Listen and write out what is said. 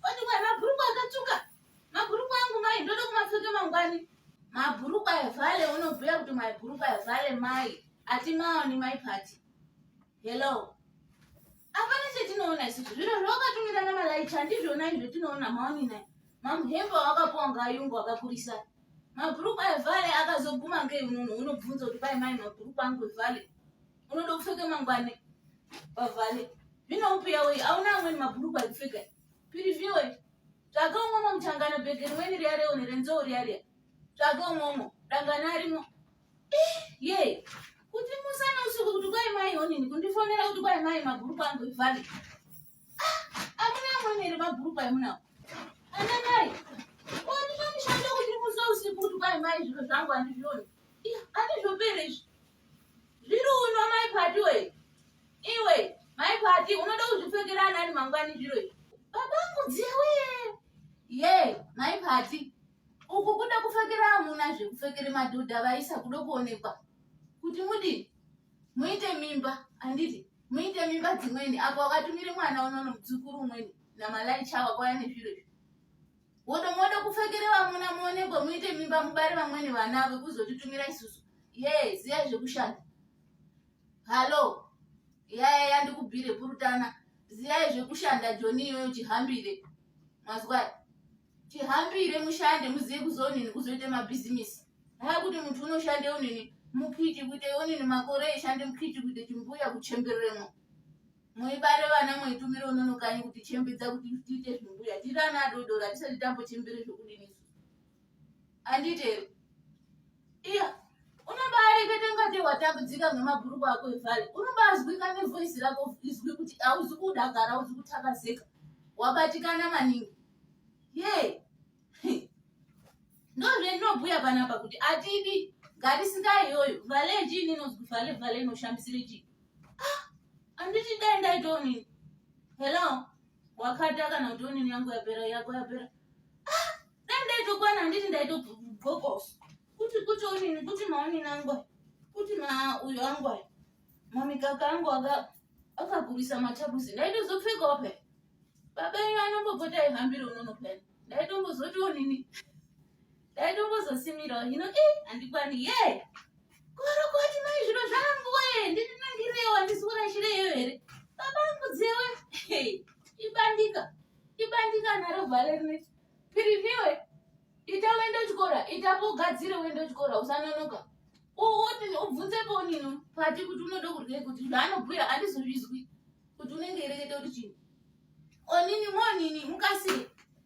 Kwandikwa mabhurukwa akatsvuka. Mabhurukwa angu mai ndoda kumapfeka mangwani. Mabhurukwa evale unobhuya kuti mabhurukwa evale mai. Ati maoni mai party. Hello. Hapana chetinoona isu zviro zvawakatumira namalaicha handizvona izvo tinoona maoni naye. Mamuhembo wakapuwa ngayungu akakurisa. Mabhurukwa evale akazoguma ngei unono unobvunza kuti pai mai mabhurukwa angu evale. Unoda kupfeka mangwani. pavhale vinomupiya wei auna amweni mabhurukwa ekupfeka piriviwe tsvaga umwomwo muchangana bhege rimweni riya reone renzou riya riya tsvaga umwomwo dangana arimo eh, ye kuti musana usiku kuti kwai mai honini kundifonera kuti kwai mai mabhurukwa angu ivhale ah, amuna amweni ere mabhurukwa emunawo ana mai ondipa mushando kuti musa usiku kuti kwai mai zviro zvangu handizvioni andizvopere izvi Zviri uno mai Pati we. Iwe mai Pati unoda kuzvipfekera anani mangwani zviro izvi. Baba mudziya we. Ye, mai Pati. Uku kuda kupfekera amuna zvekupfekere madhodha vaisa kuda kuonekwa. Kuti mudi muite mimba anditi muite mimba dzimweni apo wakatumire mwana unono mudzukuru umweni namalai chawa kwaya nezviro izvi. Godo moda kupfekere vamuna muonekwe muite mimba mubare vamweni vana avo kuzotitumira isusu. Ye, ziya zvekushanda. Hallo. Yaya yandikubhire purutana. Ziya zvekushanda Joni iyoyo chihambire. Mazwa. Chihambire mushande muziye kuzonini kuzoita mabhizimisi. Haya kuti mtu unoshande unini mukiti kuite unini makore eshande mukiti kuite chimbuya kuchembereremo. muibare vana muitumire unono kanyi kuti chembedza kuti tiite zvimbuya tiri ana adodori hatisati tambochembere zvokudini handite iya unobarekete ngate watambudzika ngemabhuruku ako evhale unobazwika nevoisi rako izwi kuti hauzi kudakara hauzi kutakazeka wabatikana maningi ye ndozvendinobhuya panapa kuti atidi ngatisingayoyo vhale chii ninozwi vhale vhale inoshambisire chii ah, anditi dai ndaita onini hello wakata kana kuti onini yangu yapera yako yapera ah, dai ndaitokwana anditi ndaitobhokoso kuti kuti onini kuti maonini angu kuti ma uyo angu ayo mamikaka angu akakurisa matabusi ndaitozopfekawo pe baba iyo anombopota aihambira unono pena ndaitombozoti onini dai ndongozosimirawo hino i eh, handikwani ye korokoti mai zviro zvangu we ndindinangirewo handisi kurashira iyo here baba angu dzewe ibandika ibandika nharo vhale rine piriniwe ita uende uchikora ita pogadzire uende uchikora usanonoka ubvunze ponino pati kuti unoda kurei kuti zvaanobhuya andizozvizwi kuti unenge irekete kuti chii onini monini mukasire